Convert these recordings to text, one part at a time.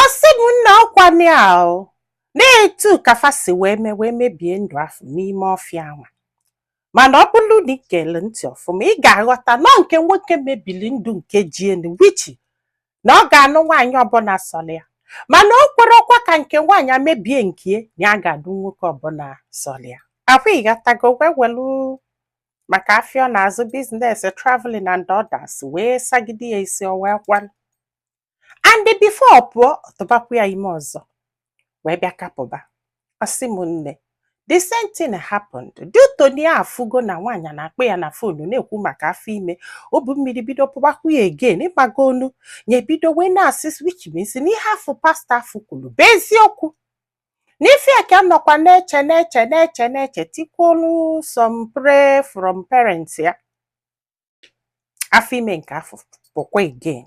ọ sị m nna ọkwanị a o na-etu ka fa si wee mee wee mebie ndụ afụ n'ime ọfịa anwa mana ọ bụrụ na ị gere ntị ọfụma ị ga-aghọta na nke nwoke mebili ndụ nke jie in which na ọ ga-anụ nwaanyị ọbụla sọrọ ya mana o kwerọkwa ka nke nwaanyị mebie nke na ya ga-adụ nwoke ọbụla sọrọ ya ọkwa ị ghọtago wee welu maka afịa ọ na-azụ biznes traveling and others wee sagide ya isi o wee kwelụ and before ọ pụọ ọ tụbakwa ya ime ọzọ wee bịa ka pụba ọ sị m nne the same thing happened due to na ya afụgo na nwaanyị na-akpọ ya na fonu na-ekwu maka afọ ime obu mmiri bido pụbakwa ya again ịmagonu ya ebido wee na-asị which means na ihe afụ pastọ afụ kwuru bụ eziokwu n'ife a ka nọkwa na-eche na-eche na-eche na-eche tikwuolu some pray from parents ya afọ ime nke afụ pụkwa again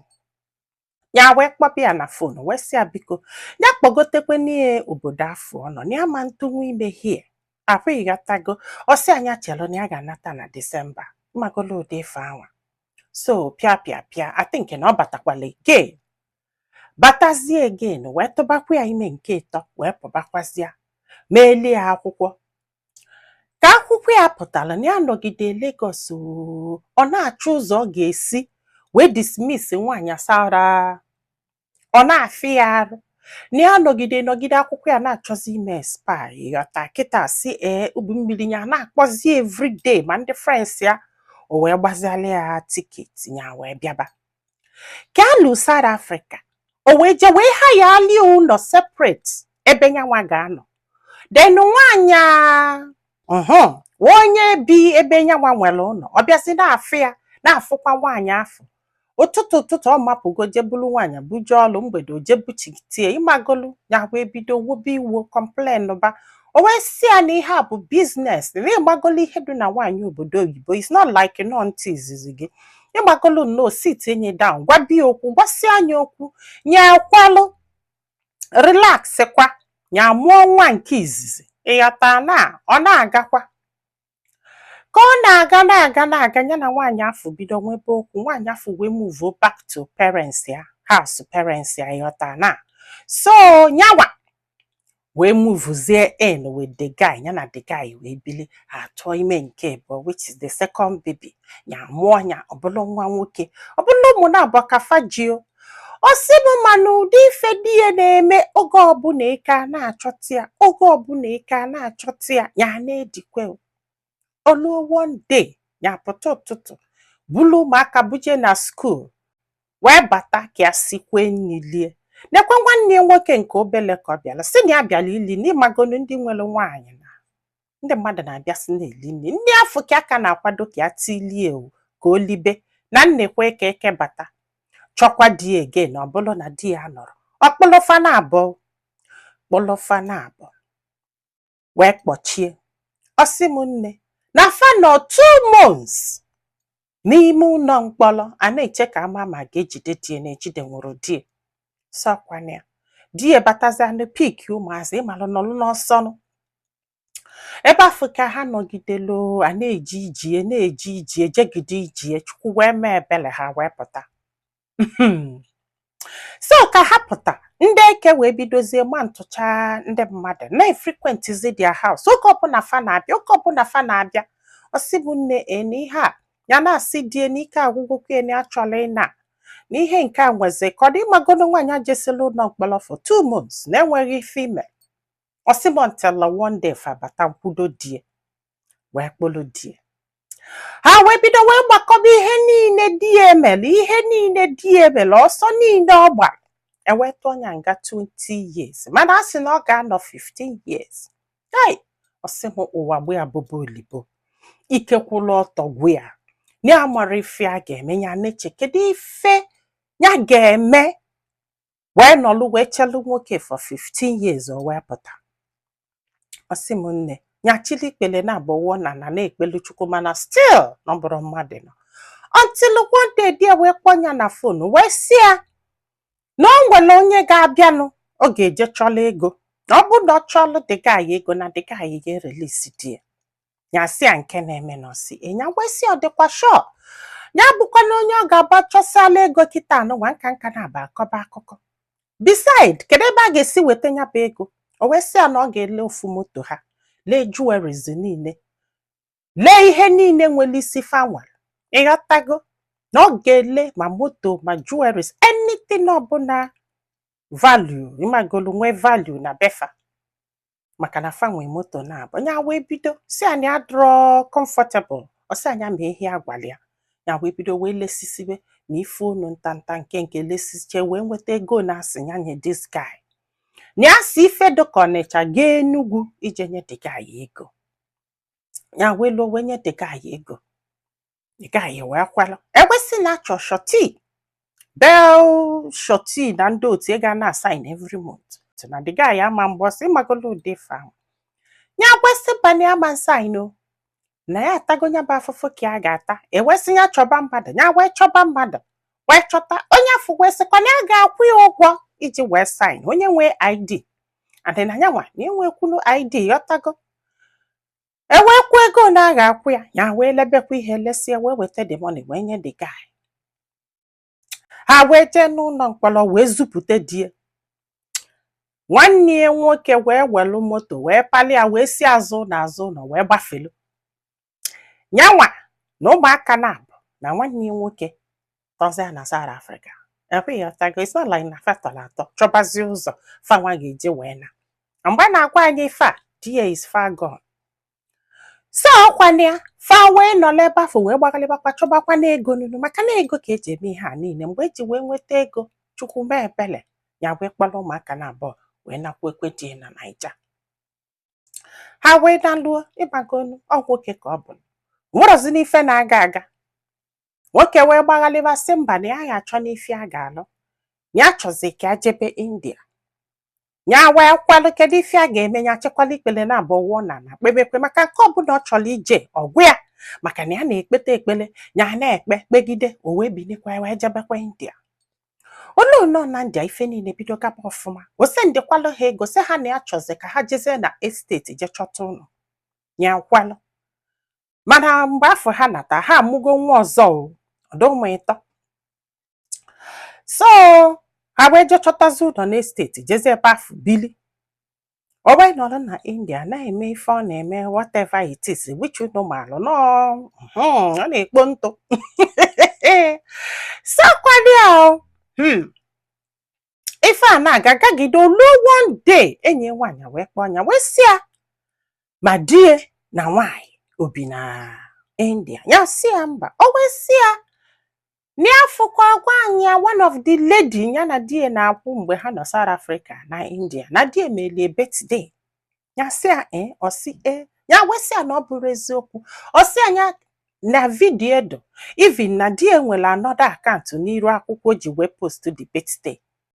ya wee kpọba ya na fon wee sị ya biko ya kpọgotekwe nya obodo afụ ọ nọ na ya ama ntụnwu ime hie ọkwa ị ghọtago ọ sị ya nya chelụ na ya ga-anata na disemba ịmagolu ụdị ife anwa so pịa pịa pịa I think na ọ batakwala again batazie again wee tụbakwa ya ime nke ịtọ wee pụbakwazịa meelie ya akwụkwọ ka akwụkwọ ya pụtara na ya nọgide Lagos oo, ọ na-achọ ụzọ ọ ga-esi wee dismiss nwaanyị asara ọ na-afịa ya arụ na ya nọgide nọgide akwụkwọ ya na-achọzi ime expire ị ghọta kịta sị ee ubu mmiri ya na-akpọzi everyday ma ndị friends ya o wee gbaziala ya tiketi ya wee bịaba ka a lu South Africa o wee je wee hire-lị ụnọ separate ebe nyanwa ga-anọ then nwaanyị ahụ onye bi ebe nyanwa nwere ụlọ ọ bịazi na-afụ ya na-afụkwa nwaanyị afụ ụtụtụ ụtụtụ ọ mapụgo je bulu nwaanyị buje ọlụ mgbede o je buchite ya ịmagolu nya wee bido wobe iwo complain ba o wee sị ya na ihe a bụ biznes na ịmagolu ihe dị na nwaanyị obodo oyibo is not like nọ ntị izizi gị ịmagolu nnọọ sitie nya down gwaba ya okwu gwasịa nya okwu nya ekwelụ relax kwa nya amụọ nwa nke izizi ịghọta na ọ na-agakwa ka ọ na-aga na-aga na-aga ya na nwaanyị afụ bido nwebe okwu nwaanyị afụ wee muvuo back to parents ya house parents ya ịghọta na so nyanwa wee muvuzie in with the guy ya na the guy wee bili ya atụọ ime nke ibụọ which is the second baby ya mụọ ya ọ bụlụ nwa nwoke ọ bụ na ụmụ naabọ ka fa ji o ọ sị m mana ụdị ife di ya na-eme oge ọbụla ike a na-achọta ya oge ọbụla ike a na-achọta ya ya na-edikwe o luo one day ya pụta ụtụtụ bulu ụmụaka buje na school wee bata ka ya sikwe nri lie nekwe nwanne ya nwoke nke obele ka ọ bịara sị na ya bịara ili nri ịmagonu ndị nwere nwaanyị na ndị mmadụ na-abịasị na-eli nri nri afụ ka a ka na-akwado ka ya tilie ka o libe na nnekwe ka eke bata chọkwa di ya again ọ bụrụ na di ya anọrọ ọ kpụlụ fa naabọ kpụlụ fa naabọ wee kpọchie ọ sị m nne na fa nọ two months n'ime ụlọ mkpọrọ a na-eche ka a ma ma a ga-ejide di ya na ejidenwurọ di ya sọkwa na di ya batazianụ pick ụmụazị ịmalụ nọlụ n'ọsọnụ ebe afụ ka ha nọgidelu a na-eje ije na-eje ije jegide ije chukwu wee mee ebele ha wee pụta Hmm. so ka ha pụta ndị eke wee bidozie ma ntụcha ndị mmadụ na-efrequentizi their house oge ọbụla fa na-abịa oge ọbụla fa na-abịa ọ sị m nne na ihe a ya na-asị di ya na ike agwụgokwa na ya achọla ịna na ihe nke a nwezi ka ọ dị ịmagonu nwaanyị ajesila ụlọ mkpọrọ for two months na-enweghị ife o me ọ sị m until one day fa bata kwudo di ya wee kpụrụ di ya ha wee bido wee gbakọba ihe niile di ya mere ihe niile di ya mere ọsọ niile ọ gbara e wee tụọ ya nga 20 years mana a sị na ọ ga-anọ 15 years ai ọ sị m ụwa gbe ya bụba olibo ike kwụrụ ọtọ gwụ ya ya amarọ ife ya ga-eme ya na-eche kedu ife ya ga-eme wee nọlụ wee chelu nwoke for 15 years o wee pụta ọ sị m nne ya chịlị ikpele naabọ a na na na-ekpelu chukwu mana still nọ bụrụ mmadụ nọ until one day di ya wee kpọọ ya na phone wee sị ya na o nwere onye ga-abịanụ ọ ga-eje chọla ego na ọ bụrụ na ọ chọla the guy ego na the guy ga-erelease di ya ya sị ya nke na-eme na ọ sị na ya wee sị ya ọ dịkwa sure ya abụkwana onye ọ ga-aga chọsịala ego kịta a nụwa nka nka na-aba akọba akụkọ beside kedu ebe a ga-esi weta ya bụ ego o wee sị ya na ọ ga-ele ofu moto ha lee jewelries niile lee ihe niile nwere isi fa nwe ịghọtago na ọ ga-ele ma moto ma jewelries anything ọbụla value ịmagonu nwee value na be fa maka na fa nwee moto naabọ ya wee bido sị na ya adịrọ comfortable ọ sị na ya mee ihe a gwala ya ya wee bido wee lesisibe ma ife ụnọ ntanta nke nke lesiche wee nweta ego na a sị ya nye this guy na ya si ife dịka ọnịcha gaa enugwu ije nye the guy ego ya wee luo wee nye the guy ego the guy wee kwelụ e wee sị na a chọ surety bail surety na ndị otu ga na-asign every month na the guy ama mbọsị magolo ụdị fa ahụ ya wee sị mba na ya ama sign o na ya atago nya bụ afụfụ ka a ga-ata e wee sị ya chọba mmadụ ya wee chọba mmadụ wee chọta onye afụ wee sịkwa na ya ga-akwụ ya ụgwọ iji wee sign onye nwee id adị na ya nwa na enwekwulu id ị ghọtago e wee kwuo ego ole a ga-akwụ ya ya wee lebekwa ihe lesie wee weta the money wee nye the guy ha wee jee n'ụlọ mkpọrọ wee zụpụta di ya nwanne ya nwoke wee welu moto wee pali ya wee si azụ ụlọ azụ ụlọ wee gbafelu nyanwa na ụmụaka na abụọ na nwanne ya nwoke tọzie na South Africa ọkwa ị ghọtago it's not like na fa tọrọ atọ chọbazie ụzọ fanwa ga-eji wee na mgbe a na-agwa anyị ife a di ya is far gone so ọkwana ya fa wee nọla ebe afụ wee gbagalịbakwa chọbakwa na ego nunu maka na ego ka e ji eme ihe a niile mgbe e ji wee nweta ego chukwu mee ebele ya wee kpọrọ ụmụaka na abụọ wee nakwakwu di ya na naija ha wee naluo ị magonu ọ nwoke ka ọ bụ nwerozi n'ife na-aga aga nwoke wee gbaghalịba sị mba na ya ya achọ n'ife ya ga-alụ ya chọzi ka ya jebe india ya wee kwelụ kedu ife a ga-eme ya chịkwalụ ikpele na abụọ wụọ n'ana kpebekwa maka nke ọbụla ọ chọrọ ije ọ gwa ya maka na ya na-ekpeta ekpele ya na-ekpe kpegide o wee bilikwa wee jebekwa india ọ nọ nọ na india ife niile bido gaba ọfụma o sendikwalụ ha ego sị ha na ya chọzi ka ha jezie na estate je chọta ụlọ ya kwelụ mana mgbe afụ ha nata ha amụgo nwa ọzọ ọ dụ ụmụ ịtọ so ha wee je chọtazi ụlọ n'estate jezi ebe afụ bili o wee nọrọ na india na-eme ife ọ na-eme whatever it is which unu maalụ nọ hmm, ọ na-ekpo ntụ sakwadị ahụ hmm. ife a na-aga gagide o luo one day enyi nwaanyị wee kpọọ nya wee sị ya ma di ya na nwaanyị o bi na India ya sị ya mba o wee sị ya na ọ fụkwa nwaanyị a one of the lady ya na di ya na-akwụ mgbe ha nọ South Africa na India na di ya melie birthday ya sị ya ee ọ sị ee ya wee sị ya na ọ bụrọ eziokwu ọ sị nya na video dụ even na di ya nwere another account n'iru akwụkwọ ji wee post the birthday